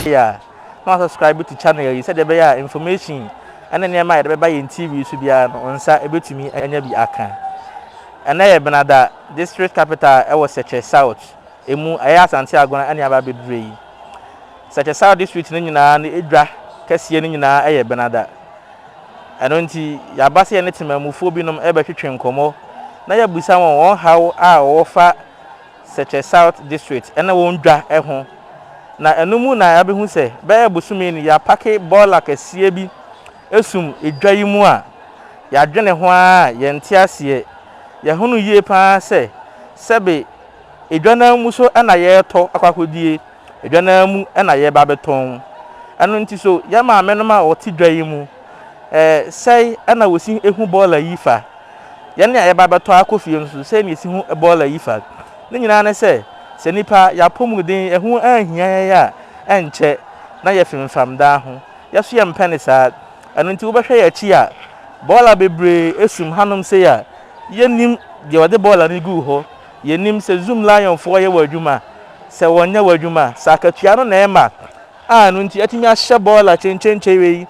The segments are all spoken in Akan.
Yeah. na subscribe to channel yi sɛdeɛ ɛbɛyɛ a information ɛne nneɛma a yɛde bɛba yɛn tv so biara no nsa ɛbɛtumi anya bi aka ɛnɛ yɛ benada district capital ɛwɔ sɛkyɛ south ɛmu ɛyɛ asante agona ɛne aba bɛdurɛ yi Sɛkyɛsɛw District no nyinaa no edwa kɛseɛ no nyinaa yɛ Benada. Ɛno nti, yɛaba sɛ yɛne temanmufoɔ binom rebɛtwetwe nkɔmmɔ na yɛabisa wɔn wɔn haw a wɔwɔ fa Sɛkyɛ South District ne wɔn dwa ho. Na ɛno mu na yɛabɛhu sɛ bɛyɛ bosome ni yɛapake bɔɔla kɛseɛ bi sum edwa yi mu a yɛadwene ho ara a yɛnte aseɛ. Yɛahunu yie pa ara sɛ sɛbe Edwa no ara mu so na yɛretɔ akɔ akɔdie, edwa no ara mu na yɛreba abɛtɔn. Ɛno nti so yɛn maamenom a wɔte dwa yi mu, sɛe na wɔsi hu bɔɔla yi fa? Yɛn a yɛreba abɛtɔ akɔ fie nso, sɛn na yɛsi hu bɔɔla yi fa? Ne nyinaa ne sɛ, sɛ nnipa yɛn apɔmuden ɛho anhia yɛn a, ɛnkyɛ na yɛfemfam daa ho. Yɛn nso yɛmpɛ no saa. Ɛno nti wobɛhwɛ yɛn akyi a, bɔɔla bebree sum hanom sei a, yɛnnim deɛ ɔde bɔɔla no guu hɔ. Yɛnim sɛ Zoom Lionfoɔ yɛ wɔn adwuma a, sɛ wɔnyɛ wɔn adwuma a, sɛ akatua no na ɛma a ɛno nti atumi ahyɛ bɔɔla kyenkyenkyen wei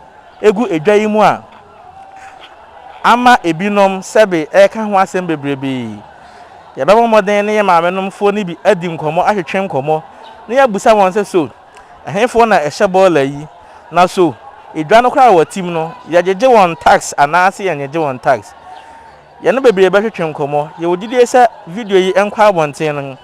gu edwa yi mu a, ama ebinom sɛbe ɛreka ho asɛm bebrebe yi. Yɛbɛbɔ mmɔden ne yɛn maamenomfoɔ no bi adi nkɔmmɔ atwetwe nkɔmmɔ na yɛabisa wɔn sɛ so ɛhefoɔ na ɛhyɛ bɔɔla yi na so edwa no koraa a wɔtim no yɛgyegye wɔn tax anaase yɛnnyegye wɔn tax. Yɛne bebree bɛtwetwe nkɔmmɔ. Yɛwɔ gyidie sɛ video yi nkɔ abɔnten no,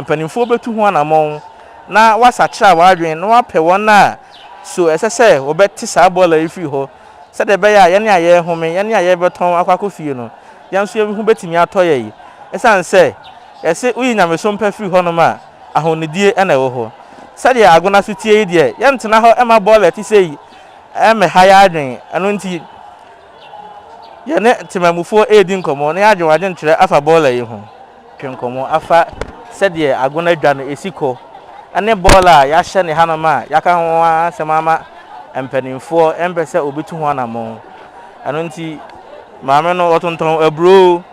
mpanimfoɔ bɛtu ho anammɔn na wɔasakyera wɔn adwene na wɔapɛ wɔn a so ɛsɛ sɛ wɔbɛte saa bɔɔla yi firi hɔ sɛdeɛ ɛbɛyɛ a yɛn a yɛrehome, yɛn a yɛrebɛtɔn akɔ akɔ fie no, yɛn nso yɛn ho bɛtumi atɔ yɛn. Ɛsiane sɛ yɛse woyi nyamesom pa firi hɔnom a, ahonidie na ɛwɔ hɔ. Sɛdeɛ Agona so teɛ yi deɛ, yɛntena hɔ mma bɔɔla a ɛte sei mmɛha yɛn adwene, ɛno nti, Yɛne temammufoɔ redi nkɔmmɔ na yɛadwen adwenkyerɛ afa bɔɔla yi ho. Twe nkɔmmɔ afa sɛdeɛ ago no adwa no ɛsi kɔ ne bɔɔla a yɛahyɛ ne hanom a yɛaka ho ara asɛm ama mpanimfoɔ mpɛ sɛ wɔbɛtu ho anammɔn. Ɛno nti maame no ɔtontɔn aburoo.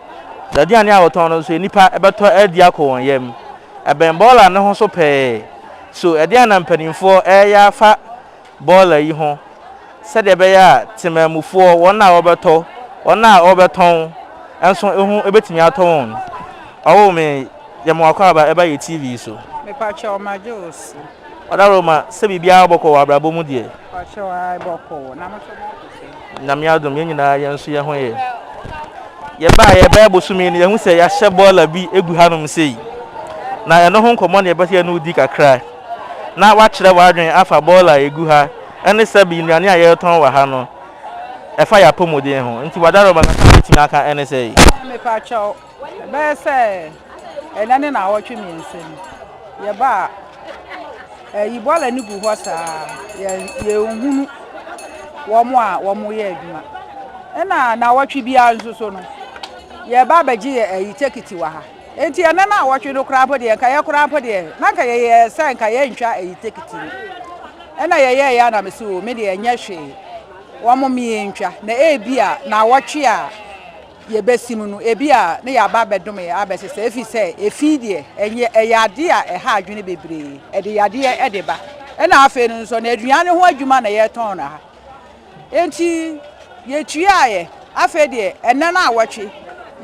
N'aduane a ɔtɔn no nso nnipa bɛtɔ adi akɔ wɔn yam. Ɛbɛn bɔɔla no ho so pɛɛ. So ɛdeɛn na mpanimfoɔ reyɛ afa bɔɔla yi ho sɛdeɛ ɛbɛyɛ a temanmufoɔ, wɔn a wɔbɛtɔ, wɔn a wɔbɛtɔn nso ho bɛtumi atɔ wɔn. Ɔwoo me, yɛ me w'akwaaba, ɛba yɛ TV so. Mepakyɛw ma gye wo so. Ɔdaworo ma sɛ biribiara bɔkɔ wɔ abrabɔ mu deɛ. Pakyɛw a ɛbɔkɔ wɔ, na mo nso mo te sɛ. Nyame adom, yɛn nyinaa yɛn nso yɛn ho yɛ. Yɛbaa yɛ bɛyɛ bosome no yɛhu sɛ yɛahyɛ bɔɔla bi egu hanom sei. Na ɛno ho nkɔmmɔ na yɛbɛsɛ yɛne wo di kakra. na woakyerɛ w'adwene afa bɔɔla a egu ha ne sɛbe nnuane a yɛretɔn wɔ ha no ɛfa yɛn apɔmuden ho nti w'adaworo ma nea mɛtumi aka ne sɛe. Mepakyɛw, ɛbɛyɛ sɛ ɛnnɛ ne naawɔtwe mmiɛnsa ni yɛbaa ha. Ɛyi bɔɔla no gu hɔ saa yɛ yɛnhunu wɔn a wɔyɛ adwuma. Ɛna naawɔtwe biara nso so no yɛba abɛgye yɛ ɛyi tekiti wɔ ha. Enti ɛnnɛ no awɔtwe no koraa mpo deɛ, nka yɛ koraa mpo deɛ, na nka yɛyɛ sɛ nka yɛntwa ayi tekiti no. Ɛna yɛyɛɛeɛ a na me se o, me deɛ ɛnyɛ hwee, wɔmmo me yɛntwa, na ebi a na awɔtwe a yɛbɛsim no, ebi a ne yɛaba abɛdom yɛ abɛsesa, ɛfiri sɛ efi deɛ, ɛnyɛ, ɛyɛ adeɛ a ɛha adwene bebree, ɛde yadeɛ de ba. Ɛna afei no nso, na aduane ho adwuma na yɛtɔn no ha. Enti yetuaeɛ. Afei deɛ ɛnnɛ no awɔtwe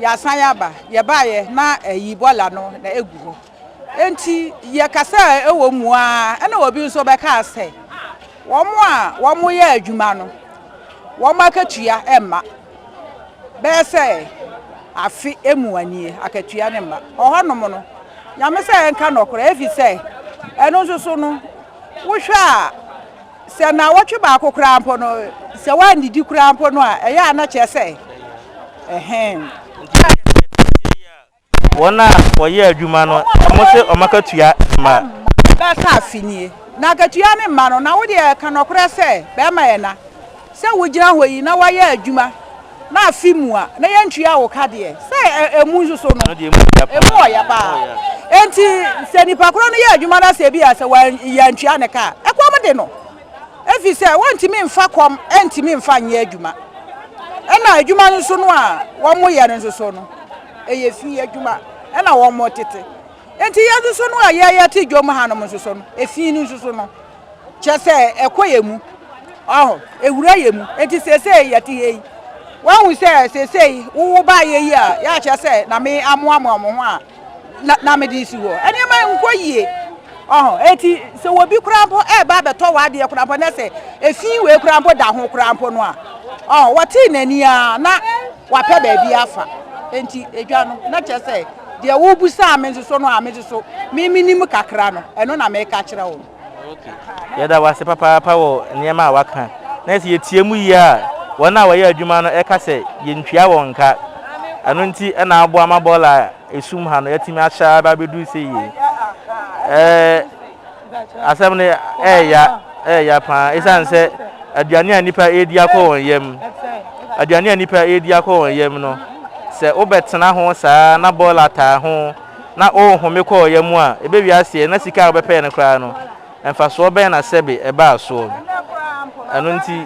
yɛasan aba. Yɛbaeɛ na ayi bɔla no na ɛgu hɔ. Enti yɛkasaa wɔ mu ara ɛna obi nso bɛkaa sɛ wɔn a wɔyɛ adwuma no wɔn akatua mma bɛyɛ sɛ afe mu anie akatua no mma. Ɔhɔnom no Nyame sɛ yɛnka nɔkorɛ efisɛ ɛno nso so no wohwɛ a Sɛ nnawɔtwe baako koraa mpo no, sɛ woannidi koraa mpo no a, ɛyɛ a na kyerɛ sɛ ɛhe? Nti na yɛte adansie yi a wɔn a wɔyɛ adwuma no, wɔse wɔn akatua mma. Bɛka afe nie, na akatua no mma no, na wo deɛ ka nɔkorɛ sɛ bɛma yɛn na. Sɛ wogyina hɔ yi na wɔyɛ adwuma. Na afi mu a, na yɛntua wo ka deɛ. Sɛ ɛmu nso so no, Ɛno deɛ ɛmu yɛ ya paa. ɛmu ɔya paa. Ɛmu ɔya. Enti sɛ nipa korɔ no yɛ adwuma na sɛ ebi a sɛ wan yɛantua ne ka a, ɛkɔm de no. Ɛfiri sɛ wɔntumi mfa kɔm ntumi mfa nyɛ adwuma. Ɛna adwuma no nso no a wɔyɛ no nso so no, ɛyɛ fi adwuma ɛna wɔtete. Enti yɛn nso so no a yɛyɛ te dwom hanom nso so no, efi no nso so no, kyerɛ sɛ ɛkɔ yɛ mu ɔho ɛwura yɛ mu ɛnti seesei yɛte hɛ yi wahu sɛ seesei wowo baa yɛ yi a yɛakyerɛ sɛ na me amoamoa mo ho a na mede si hɔ ɛnneɛma nkɔ yie ɔho ɛnti sɛ wɔbi koraa mpo ɛba bɛtɔ wɔ adeɛ koraa mpo na sɛ ɛfi wei koraa mpo da ho koraa mpo no a ɔho wɔtee n'ani a na wapɛ baabi afa ɛnti ɛdwa no na kyerɛ sɛ deɛ wobusaa me nso so no a me nso so memenim kakra no ɛno na meka kyerɛ wo Yɛda wo ase papaapa wɔ nneɛma a woaka, na sɛ yetie mu yie a, wɔn a wɔyɛ adwuma no ka sɛ yentua wɔn ka. Ɛno nti na aboa ma bɔɔla a esum ha no atumi ahyɛ ara ba abɛduru sɛ yie. Ɛɛ, asɛm no ɛreya, ɛreya paa ɛsiane sɛ aduane a nnipa redi akɔ wɔn yam, aduane a nnipa redi akɔ wɔn yam no, sɛ wobɛtena ho saa na bɔɔla taa ho na ɔrehome kɔ ɔya mu a, ɛbɛwie aseɛ na sika a ɔbɛpɛɛ no koraa no, mfasoɔ bɛn na sɛbe ɛbaa soɔ? Ɛno nti.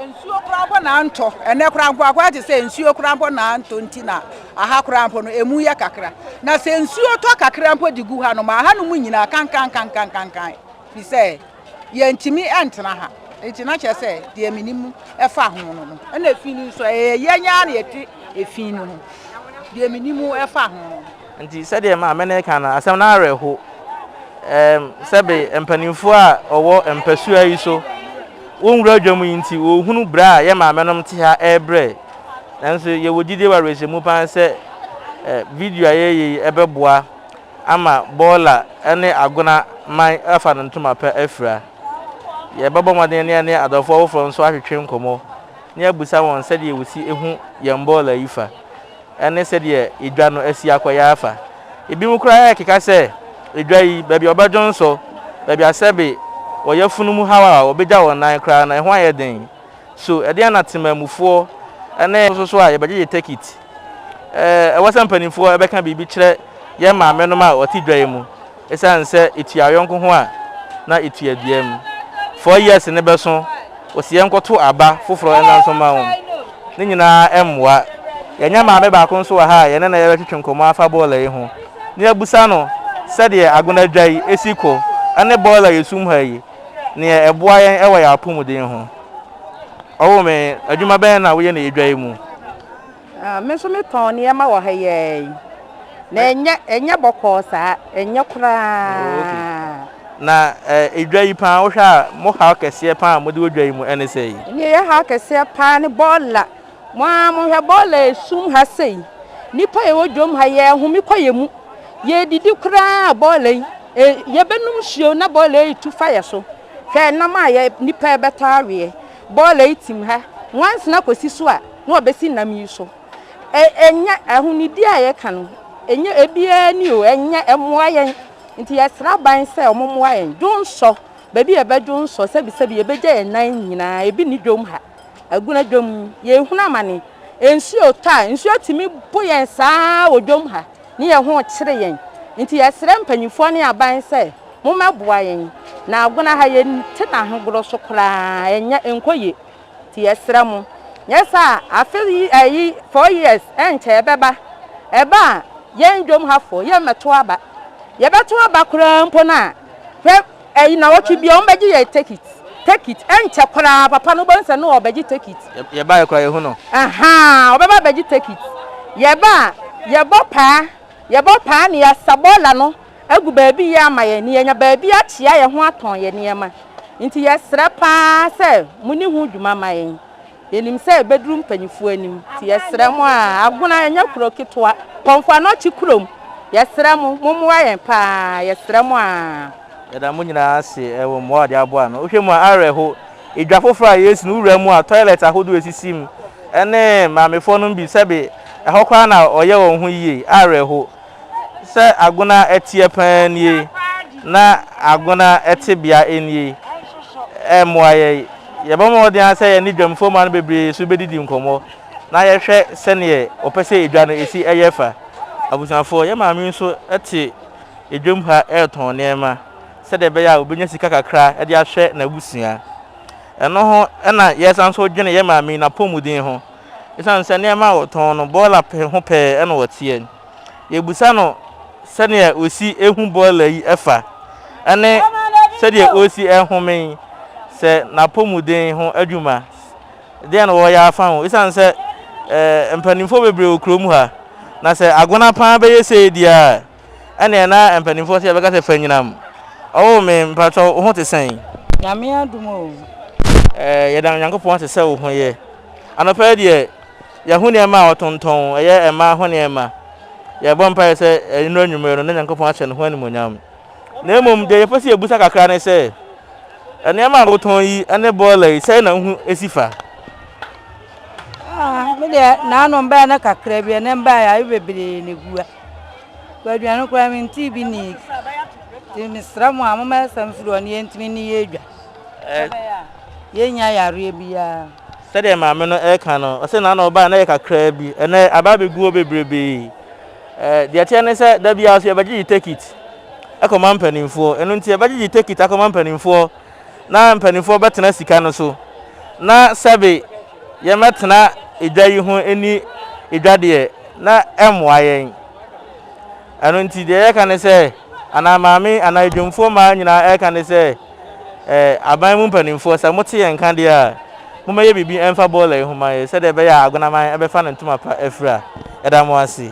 Nsuo koraa mpo na antɔ. Ɛnnɛ koraa mpo, akɔyɛ te sɛ nsuo koraa mpo na antɔ nti na aha koraa mpo no, ɛmu yɛ kakra. Na sɛ nsuo tɔ kakra mpo de gu hanom a, hanom nyinaa kankankankankankan, firi sɛ. Yɛntumi ntena ha nti na kyerɛ sɛ deɛ menim ɛfa ho no no ɛna efi no nso ɛyɛ yɛn nyaa na yɛte efi no ho deɛ menim ɛfa ho no. Nti sɛdeɛ ma me ne ka no asɛm no awerɛ ho ɛɛm sɛbe mpaninfoɔ a ɔwɔ mpasua yi so wo nwura dwa mu yi nti wɔ hunu berɛ a yɛ maame nom te ha ɛɛbrɛ nanso yɛwɔ gyidie wɔ awerɛhyɛmu paa sɛ video a yɛɛyɛ yi ɛbɛboa ama bɔɔla ne agona man afa no ntoma pa afira. Yɛbɛbɔ mmɔden ne yɛne adɔfo afoforo nso atwetwe nkɔmmɔ na yɛabisa wɔn sɛdeɛ wɔsi hu yɛn bɔɔla yi fa ne sɛdeɛ edwa no asi akɔyɛ afa. Ebinom koraa rekeka sɛ, Edwa yi, baabi a wɔbɛdwo nsɔ, baabi a sɛbe wɔ yafunu mu haw a wɔbɛgya wɔn nan koraa no, ɛho ayɛ den. So ɛdeɛn na temanmufoɔ ne. Nso so a, yɛbɛgyegye tekit. Ɛwɔ sɛ mpanimfoɔ bɛka biribi kyerɛ yɛn maamenom a wɔte dwan mu ɛsiane sɛ ɛtua yɔnko ho a na ɛtua dua mu. Four years no bɛso, wɔsi yɛnkɔto aba foforɔ nna nso mma wɔn. Ne nyinaa ɛmmoa. Yɛanya maame baako nso wɔ ha a yɛne no yɛbɛtwetwe nkɔmmɔ afa boiler yi ho na yɛabusa no sɛdeɛ Agona dwa yi ɛsi kɔ ɛne boiler a yɛsum ha yi neɛ ɛboa yɛn ɛwɔ yɛn apomuden ho. Ɔwo me, adwuma bɛn na woyɛ no yɛ dwa yi mu? Ah, me nso metɔn nneɛma wɔ ha yɛn. Na ɛnyɛ ɛnyɛ bɔkɔɔ saa, ɛnyɛ koraa. Oh, okay. Na eh, dwa yi paa wohwɛ a mo haw kɛseɛ paa a mode wɔ dwa yi mu ɛne sɛ yi? Nea ɛyɛ haw kɛseɛ paa ne bɔɔla. Mo ara mohwɛ bɔɔla esum ha sei. Nnipa a yɛwɔ dwam ha yɛhome kɔ yɛn mu. Yɛdidi koraa a bɔɔla yi, eh, yɛbɛnom nsuo na bɔɔla yi tu fa yɛn so. Hwɛ nam a yɛ nnipa rebɛtɔ aweɛ. Bɔɔla yi tim ha nwansena kɔsi so a, na ɔbɛsi nam yi so. Ɛ, ɛnyɛ, ahonidie a yɛka no, ɛnyɛ ebiara ni o, ɛnyɛ, ɛmmoa yɛn. Nti yɛsrɛ aban sɛ wɔmmoa yɛn. Dwonsɔ, baabi a yɛbɛdwonsɔ, sɛbisɛbi yɛbɛgya yɛn nan nyinaa, ebi nni dwom ha. Aguna dwom, yɛrehunu amane. Nsuo tɔ a, nsuo tumi bo yɛn saa ara wɔ dwom ha. ne yɛn ho rekyere yɛn. Enti yɛsrɛ mpanimfoɔ ne aban sɛ mommɛboa yɛn. Na Agona ha yɛnte n'ahogorɔ so koraa, ɛnyɛ, ɛnkɔ yie. Enti yɛsrɛ mo. Nyɛ saa a, afe yi, ayi, four years, ɛnkyɛ ɛbɛba. Ɛba a, yɛn Dwom hafoɔ, yɛmmɛto aba. Yɛbɛto aba koraa mpo no a, hwɛ! Eyi nawɔtwe biaa ɔmo bɛgye yɛn tekit tekit ɛnkyɛ koraa papa no wobɛhu sɛ no ɔɔbɛgye tekit. Yɛ baeɛ koraa yɛhu no. Ahaa ɔbɛba abɛgye tekit. Yɛba a yɛbɔ paa yɛbɔ paa na yɛasa bɔɔla no agu baabi yie ama yɛn na yɛanya baabi akyea yɛn ho atɔn yɛn nneɛma. Nti yɛsrɛ paa sɛ moni ho dwuma ma yɛn. Yɛnim sɛ ɛbɛduru mpanyinfoɔ anim nti yɛsrɛ mo a Agona ɛnyɛ kuro ketewa, Kpɔmfo Anɔkye kurom, yɛsrɛ mo mommoa yɛn pa ara, yɛsrɛ mo a. Yɛda mo nyinaa ase wɔ mmoa a wɔde aboa ano. Wohwɛ mu a, awerɛho. Edwa foforɔ a yɛresi no, wowura mu a, toilet ahodoɔ a ɛsisi mu ne maamefoɔ nom bi, sɛbe ɛhɔ koraa na wɔyɛ wɔn ho yie. Awerɛho. Sɛ Agona teɛ pa ara nie na Agona tebea nie ɛmmoa yɛn. Yɛbɔ mmɔden ara sɛ yɛne dwam fomma no bebree nso bɛdidi nkɔmmɔ na yɛhwɛ sɛdeɛ wɔpɛ sɛ edwa no si yɛ fa. Abusuafoɔ, yɛn maame nso te edwam ha retɔn nneɛma sɛdeɛ ɛbɛyɛ a ɔbɛnya sika kakra de ahwɛ n'abusua. Ɛno ho na yɛsan nso dwene yɛn maame yi n'apɔmuden ho. Ɛsiane sɛ nneɛma a ɔtɔn no bɔɔla pɛ ho pɛɛ na ɔteɛ. Yɛbisa no sɛdeɛ ɔsi hu bɔɔla yi fa ne sɛdeɛ ɔsi home sɛ n'apɔmuden ho adwuma deɛn na ɔreyɛ afa ho ɛsiane sɛ mpanimfoɔ bebree wɔ kurom ha na sɛ agona paa bɛyɛ sei deɛ a ɛneɛ na mpanimfoɔ sɛ yɛbɛka sɛ fanyinam ɔwo me mpakyɛw wo ho te sɛn? Nyame adom o. Yɛda Nyankopɔn ase sɛ wo ho yɛ. Anɔpa yi deɛ, yɛahu nneɛma a wɔtontɔn, ɛyɛ mmaa ho nneɛma. Yɛrebɔ mpaeɛ sɛ nnora anwummerɛ no, na Nyankopɔn ahyɛ ne ho animuonyam. Na mmom deɛ yɛpɛ sɛ yɛbusa kakra ne sɛ, nneɛma a wotɔn yi ne bɔɔla yi, sɛn na wo ho si fa? Ah, me deɛ, naano mbaeɛ no kakra bi, ɛnɛ mbaeɛ a, bebree na egu ha. Aduane koraa mentee bi nni. Nti mesrɛ mo a, momma yɛsan mfiri hɔ na yɛntumi nni yɛn dwa. Sɛbɛyɛ a yɛrennya yareɛ biara. Sɛdeɛ maame no reka no, ɔse na na ɔbaeɛ na ɛyɛ kakraa bi, ɛnnɛ aba abɛgu hɔ bebrebee. Deɛ ɛteɛ ne sɛ da biara nso yɛbɛgyegye tekit kɔma mpanimfoɔ. Ɛno nti yɛbɛgyegye tekit akɔma mpanimfoɔ na mpanimfoɔ bɛtena sika no so na sɛbe yɛmmɛtena edwa yi ho nni edwa deɛ na ɛmmoa yɛn. Ɛno nti, deɛ yɛka ne sɛ, anaa Maame anaa Adwumfoɔ mmaa nyinaa ɛreka ne sɛ, eh, aban mu mpanimfoɔ, sɛ mote yɛn nka deɛ a, mommɛyɛ biribi ɛmfa boiler yi ho ma yɛn, sɛdeɛ ɛbɛyɛ a Agonaman ɛbɛfa ne ntoma pa afira. Yɛda mo ase.